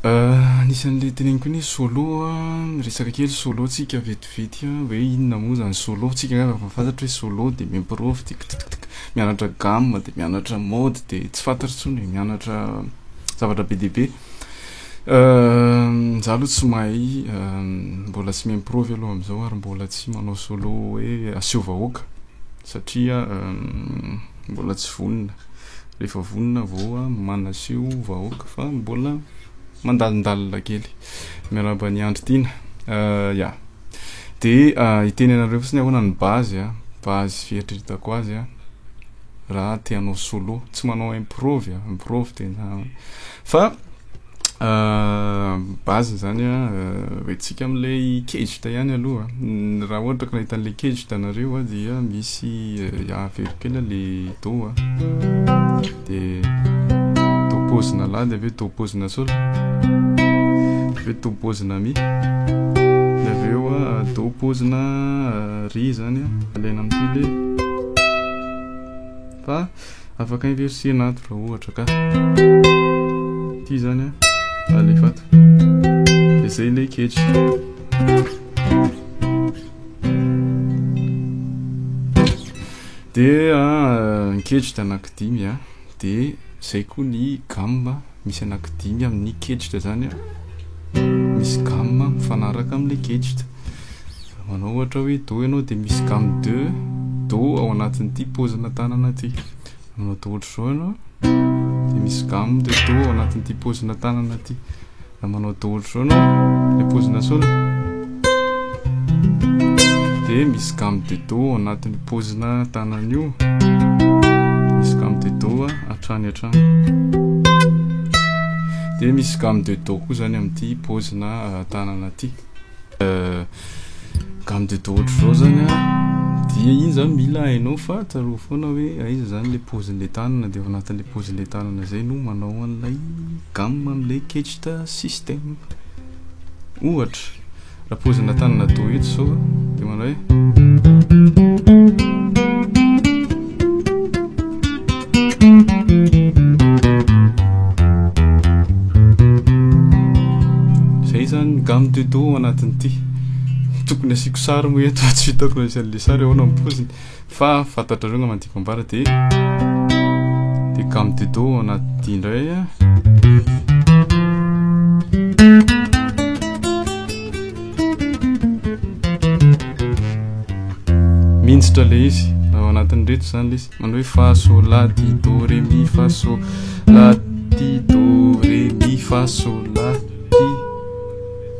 Anisan'le teneniko iny hoe solo a, miresaka kely solo tsika vetivety a, hoe inona moa zany solo, tsika angamba efa fantatry hoe solo de mi-improve de kitikitika, mianatra gamme de mianatra mode de tsy fantatra intsony e, mianatra zavatra be dia be, za aloha tsy mahay mbola tsy mi-improve aloha am'zao ary mbola tsy manao solo hoe aseho vahoaka satria mbola tsy vonona. Rehefa vonona vao manaseho vahoaka fa mbola mandalindalina kely. Miarahaba an'i Andry Tiana. Euh, ya. De uh, hiteny anareo fotsiny ahoana ny base, ah, base fieritreretako azy, ah, raha te hanao solo, tsy manao improve, ah, improve tena. Fa base zany a retsika amle kejt ihany aloha raha ohatra ka nahita anle kejt nareo a dia misy avero kely le do a de do pozina la de aveo do pozina sol aveo do pozina mi de aveo a do pozina ri zany a alaina amty le fa Afaka inverser na ato raha ohatra ka. Ity zany a. Alefa ato. Dia zay ilay ketra. dia ny ah, ketry dia anaky dimy a ah. dia zay koa ny gamme misy anaky dimy amin'ny kejitra zany an misy gamme mifanaraka amin'ilay kejitra manao ohatra hoe do ianao dia misy gamme de do ao anatin'ity pozina tanana ity manao do ohatra izao ianao dia misy gamme de do ao anatin'ity pozina tanana ity raha manao do ohatra izao ianao ilay pozina solo dia misy gamme de do ao anatin'ny pozina tanana io misy gamme de do hatrany hatrany dia misy gamme de do koa zany amin'ity pozina ah, tanana ity euh, gamme de do ohatr'izao zany a dia iny zany mila hainao fa tsarovy foana hoe aiza zany le pozin'le tanana dia ao anatin'le pozin'le tanana zay no manao an'ilay gamme amin'ilay kechita système ohatra raha pozinà tanana do eto zao de manao hoe zay zany gamme de do anatin'ity tokony asiako sary moa eto fa tsy hitako raha misy an'le sary ahoana ny poziny Fa fantatrareo angamba ny tiako ambara dia dia gamme de do ao anaty indray a. Mintsitra le izy ao anatin'ny reto izany le izy manao hoe fa so la ti do re mi fa so la ti do re mi fa so la ti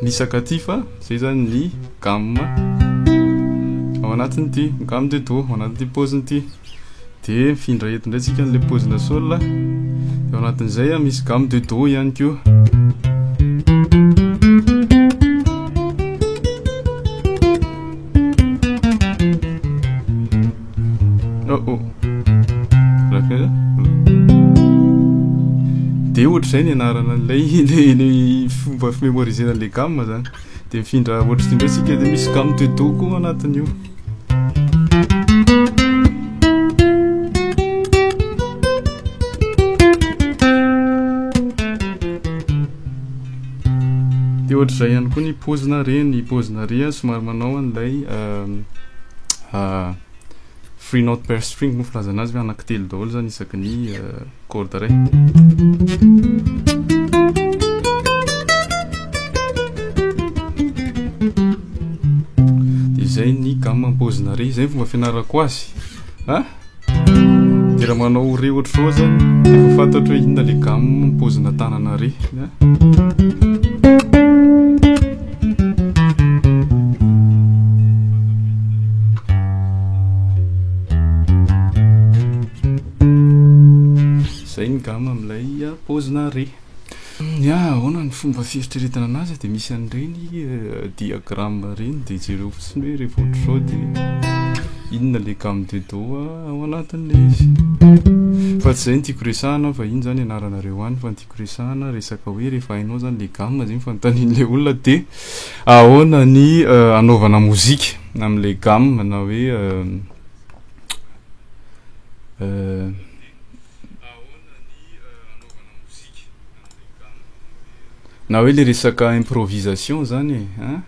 nisaka ty fa zay zany ny gamme ao anatin'ity gamme de do ao anatin'ity paoziny ity de mifindra eto indray tsika an'ilay paozina sol de ao anatin'izay a misy gamme de do ihany koa oh oh de ohatr'izay ny anarana an'ilay fomba fimemorizena an'ilay gamme zany dia mifindra ohatry ty ndray sika dia misy gamme de do koa anatin'io dia ohatry izay ihany koa ny pozina re ny pozina re somary manao an'ilay euh, euh, Three note per string moa filazana azy ve anaky telo daholo zany isaky ny corde ray dia izay ny gamme ampozina re izay ny fomba fianarako azy a ah? dia raha manao re ohatr'izao zany dia efa fantatro hoe inona le gamme ampozina tanana re ah? Zay ngamba amin'ilay paozina re. Ya, ahoana ny fomba fieritreretana anazy dia misy an'ireny diagramme ireny dia jereo fotsiny hoe rehefa ohatr'izao dia inona ilay gamme de do ao anatin'ilay izy. Fa tsy izay no tiako resahana fa iny izany ianaranareo any fa ny tiako resahana dia hoe. Resahana resaka hoe rehefa hainao zany le gamme zegny fanontanian'le olona de ahoana ny anaovana mozika am'le gamme na hoe na hoe le resaka improvisation zany e ein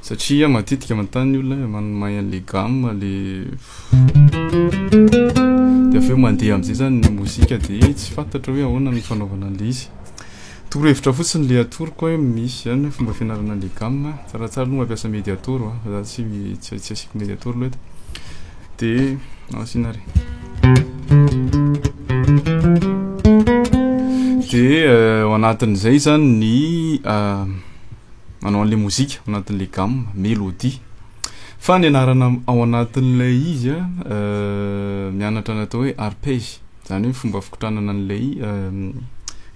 satria matetika manontany ny olona hoe mahay an'le gamme le. de avy eo mandeha am'zay zany ny mozika de tsy fantatra hoe ahoana ny fanaovana an'le izy toro hevitra fotsiny le atoroko hoe misy zany hoe fomba fianarana an'le gamme tsaratsara aloha mampiasa mediator a fa za tsy tsy tsy asiako mediator aloha eto de asiana ary de ao anatin'izay zany ny manao an'le mozika ao anatin'le gamme melodie Fa ny anarana ao anatin'ilay izy a, mianatra ny atao hoe arpège, zany hoe fomba fikotranana an'ilay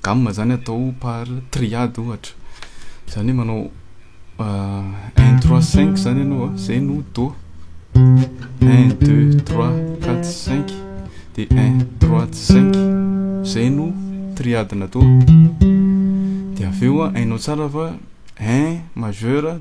gamme zany atao par triade ohatra, zany hoe manao un trois cinq zany ianao a, zay no do, un deux trois quatre cinq de un trois cinq, zay no triade-na do, de avy eo a hainao tsara fa un majeur,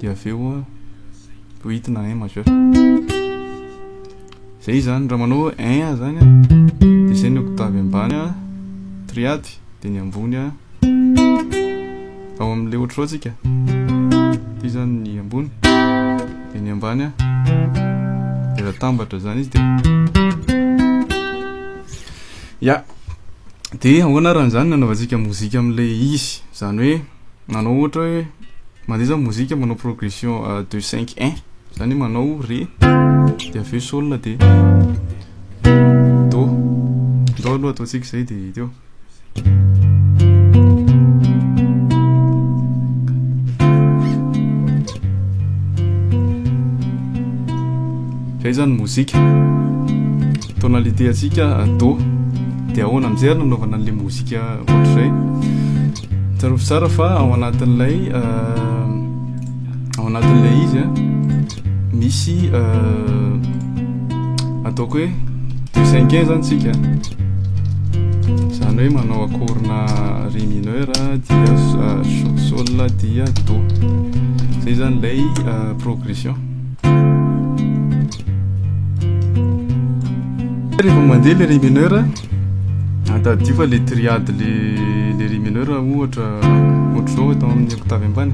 dia avy eo poitina un majeur zay izany raha manao un zany a dia zay ny octave ambany a triade dia ny ambony a ao amin'ilay ohatr'izao tsika ity zany ny ambony dia ny ambany a dia raha tambatra zany izy dia ya dia ahoana raha an'izany nanaovantsika mozika amin'ilay izy zany hoe manao ohatra hoe mandeha zany mozika manao progression euh, de cinq un zany hoe manao re de avy eo sol de do do aloha ataontsika izay de teo zay zany mozika tonalité atsika do de ahoana amizay ary nanaovana an'le mozika ohatr'izay Tsarovy tsara fa ao anatin'ilay ao anatin'ilay izy a misy ataoko hoe deux cinquième zany tsika zany hoe manao akorina ré mineur dia sol dia do zay zany ilay progression rehefa mandeha le ré mineur Tadidio fa le triade le le ry mineur ohatra ohatr'izao atao amin'ny octave ambany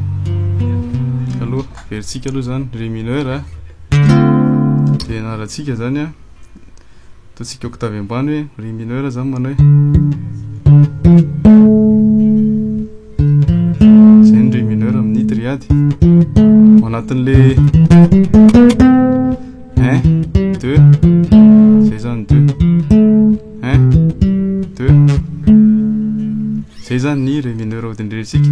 aloha verintsika aloha zany ry mineur a de anarantsika zany a ataontsika octave ambany hoe ry mineur zany manao hoe zay ny ry mineur amin'ny triade ao anatin'le un deux zay zany deux un deux zay zany ny ré mineur odiniretsika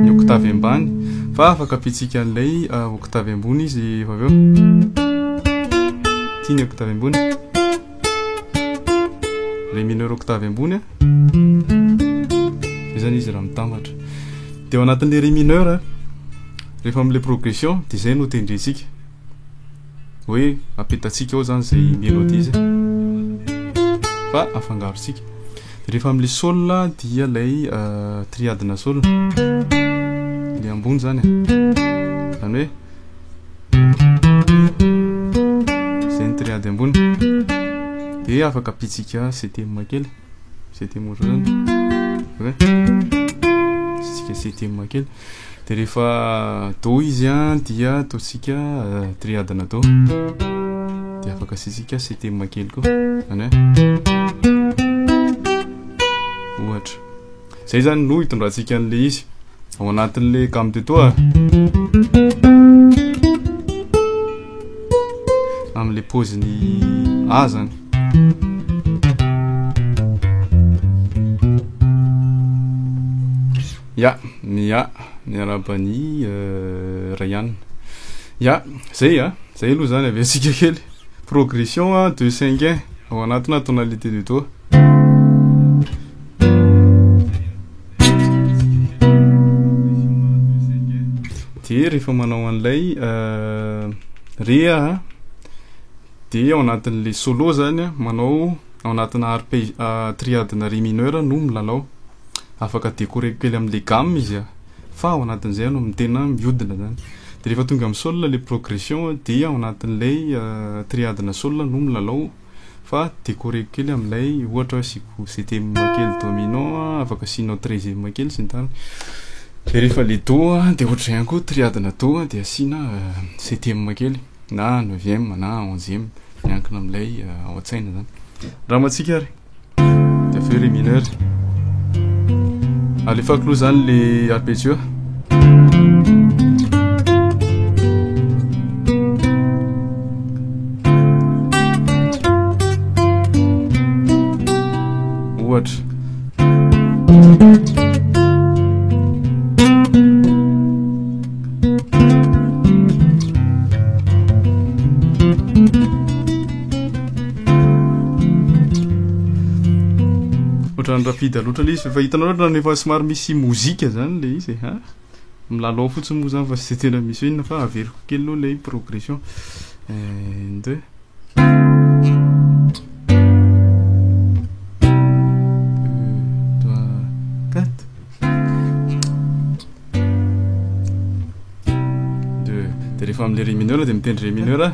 ny octave ambany fa afaka pitsika an'ilay euh, octave ambony izy efa avy eo ty ny octave ambony ré mineur octave ambony a zay zany izy raha mitambatra de ao anatin'le ré mineur rehefa am'le progression de zay no tendrentsika hoe apetatsika ao zany zay melodie zay fa afangarontsika de rehefa amle sol dia lay euh, triadina sol le ambony zany zany hoe zay ny triady ambony de afaka pitsika ctm kely ctm ohatran'zany okay? pitsika ctm kely dia rehefa do izy a dia ataontsika triadina do dia afaka asiantsika setema kely koa zany hoe ohatra zay zany no hitondrantsika an'le izy ao anatin'le gamme de toa amin'le poziny a zany Ya, ya, miarahaba an'i Ryan. Ya, zay a, zay aloha zany avy antsika kely. Progression a, deux cinq un, ao anatina tonalité de do. Dia rehefa manao an'ilay re a, dia ao anatin'ilay solo zany a, manao ao anatina arpège, triade-na re mineur no milalao. afaka décoreko kely amle gamme izy a, fa ao anatin'izay no tena miodina zany, de rehefa tonga amin'ny sol le progression dia ao anatin'ilay triade-na sol no milalao fa décoreko kely amin'ilay ohatra hoe asiako septième kely dominant a, afaka asianao treizième kely sy ny tariny, de rehefa le do a de ohatr'izay ihany koa triade-na do de asiana septième kely na neuvième na onzième miankina amin'ilay ao an-tsaina zany, angamba tsika ary. avy eo ré mineur alefako aloha zany le arpeggio ohatra Ohatran'ny rapide loatra le izy fa hitanao ohatran'ny efa somary misy mozika zany le izy e, ha. Milalao fotsiny moa zany fa tsy tena misy hoe inona fa averiko kely aloha le progression. Un, deux. Deux, trois, quatre. Deux. Dia rehefa amin'ny le ré mineur dia mitendry ré mineur.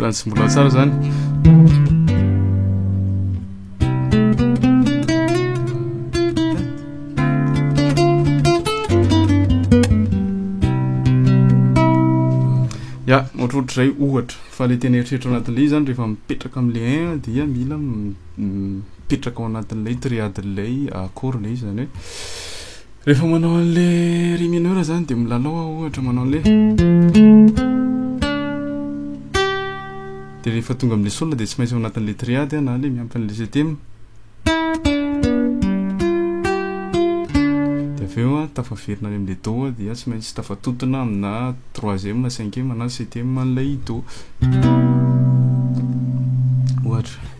Trans mbola tsara zany ya ohatrohatrizay ohatra fa le tena eritreritra anatin'le izy zany rehefa mipetraka am'le un dia mila mipetraka ao anatin'ilay triade ilay accord ilay izy zany hoe rehefa manao an'ilay ry mineur zany dia milalao aho ohatra manao an'ilay dia rehefa tonga amin'ilay sol dia tsy maintsy ao anatin'ilay triade aho na ilay miampy an'ilay septième dia avy eo aho tafaverina any amin'ilay do dia tsy maintsy tafatontona amina troisième na cinquième na septième an'ilay do ohatra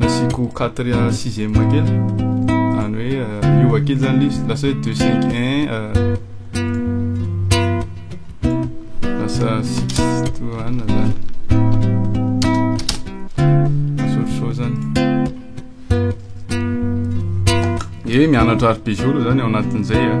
Asiako quatria sixième kely Any hoe euh, miova kely zany list Lasa hoe deux cinq un euh, Lasa six to one zany Masorisoro zany Ie mianatra arpeggio aloha zany ao anatin'izay ah.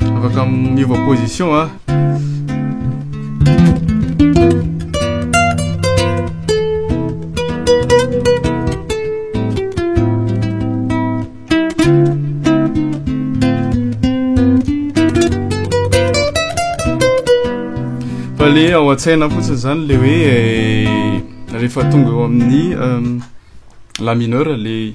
Afaka miova position a. Fa le ao an-tsaina fotsiny zany le hoe eh, rehefa tonga eo amin'ny euh, la mineur le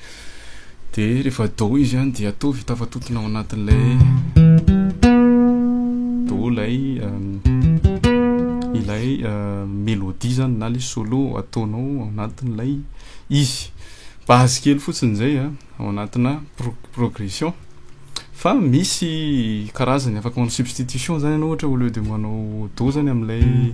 de rehefa do izy an dia atovy tafatontona ao anatin'ilay do ilay euh, ilay euh, melodie zany na le solo ataonao ao anatin'ilay izy base kely fotsiny zay a ao anatina progression fa misy karazany afaka manao substitution zany ianao ohatra au lieu de manao do zany amin'ilay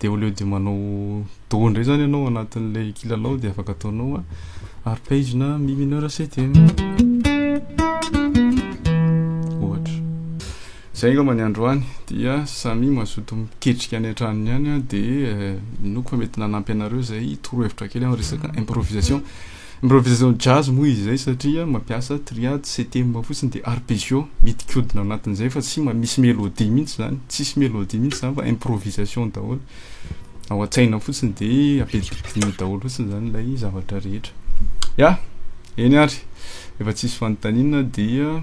dia au lieu de manao do indray zany ianao anatin'ilay kilalao dia afaka ataonao arpegena mi mineur septième ohatra zay angamba ny androany dia samy mazoto miketrika any an-tranony any dia eh, inoako fa mety nanampy anareo zay torohevitra kely amin'ny resaka improvisation Improvisation jazz moa izy izay satria mampiasa triade sy thème fotsiny dia arpeggios mitikodina ao anatin'izay fa tsy mba misy mélodie mihitsy izany, tsisy mélodie mihitsy izany fa improvisation daholo, ao an-tsaina fotsiny dia ampidimpidinina daholo fotsiny izany ilay zavatra rehetra. Ya! Eny ary! Rehefa tsisy fanontaniana dia.